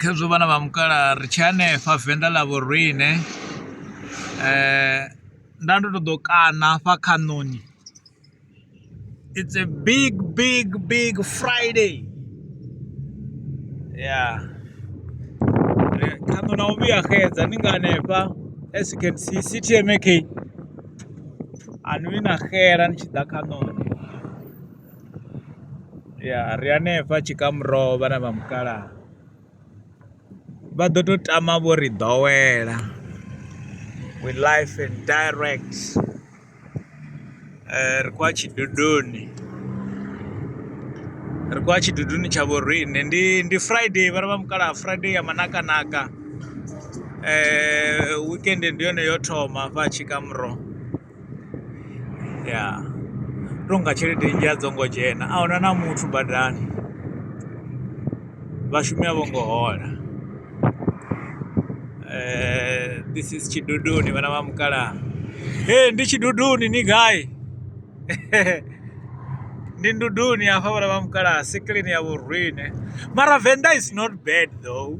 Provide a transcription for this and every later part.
khezwo vhana vha mukalaha ri tshi hanefha venḓa ḽa vho riṋe nda ndo to ḓo kaṋa hafha khaṋoni it's a big big big Friday ya khaṋo na u vhuya xedza ni nga hanefha as you can see CTMK a ni vhi na xela ni tshi ḓa khaṋoni. Ya ri hanefha tshikamurwa vha na vha mukalaha vha ḓo tou tama vho ri ḓowela we live and direct ri khou ya tshidudoni, ri khou ya tshidudoni tsha vho riṋe ndi ndi Friday vha na vha mukalaha Friday ya manakanaka wekende ndi yone yo thoma hafha tshikamurwa. ya tou nga tshelede nnzhi a dzo ngo dzhena a huna na muthu badani vhashumi a vho ngo hola this is tshiduduni vhana vha mukalaha he ndi tshiduduni ni gai ndi nduduni hafha vhana vha mukalaha siklini ya vhurwine mara venḓa is not bad though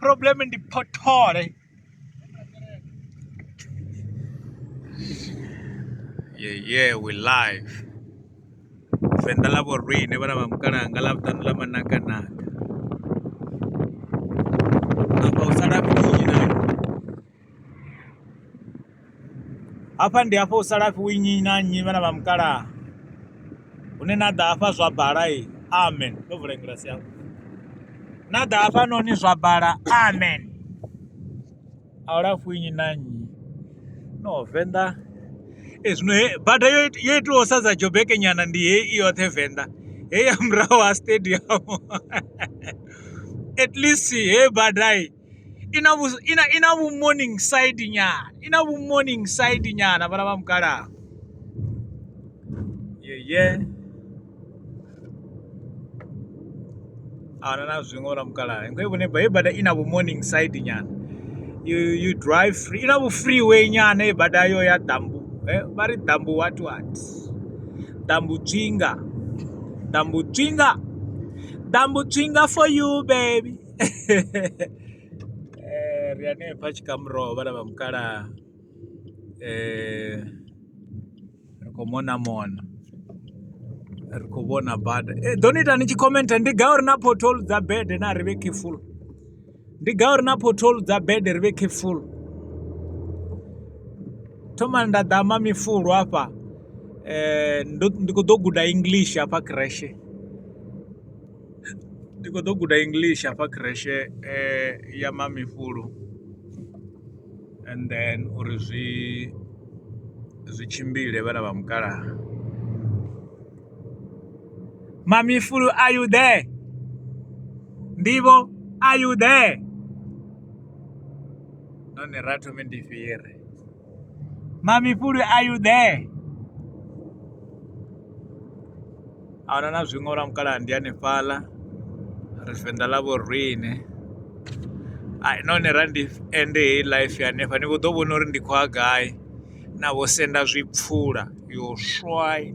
problem ndi phothole yeah, yeah, we live venḓa ḽa vho rine vhana vha mukalanga ḽa vhuṱanu ḽa manakanaka hafha ndi hafha u sala fhi winyi na nnyi vhana vha mukalaha hune na ḓa hafha zwa bala e amen ndo vula ngilasi yau na ḓa hafha noni zwa bala amen a u lafhi winyi na nnyi no venḓa e zwino he bada yo yo itiwa sa dza jobeke nyana ndi he i yoṱhe venḓa he ya murahu ha stadium at least he badai i na vhu i na i na vhu morning side nyana i na vhu morning side nyana vhana vha mukalaha ye ye ana na zwiṅwe vhana mukalaha ngo vhone ba bada i na vhu morning side nyana you you drive free i na vhu freeway nyana i bada yo ya dambu eh vha ri dambu what what dambu tswinga dambu tswinga dambu tswinga for you baby Ri hanefha Tshikamuro ho vhala vha mukalaha ri khou mona mona ri khou vhona bada i ḓo ni ita ni tshi khomentha ndi gai uri na porthol dza bede na ri vhe careful ndi gai uri na porthol dza bede ri vhe careful thomani nda ḓa ma mifulu hafha um ndi khou ḓo guda english hafha creshe ndi kho ḓo guda english hafha khireshe ya mamifhulu and then uri zwi zwi tshimbile vhana vha mukalaha mamifhulu are you there ndivho are you there none ra thome ndifhire Mami Puli, are you there? Ahuna na zwiṅwe lwa mukalaha ndi hanefhaḽa ri venḓa ḽa vho rine none ra ndi ende heyi life hanefha ni vho ḓo vhona uri ndi khou ya gai na vho senda zwipfula yo swai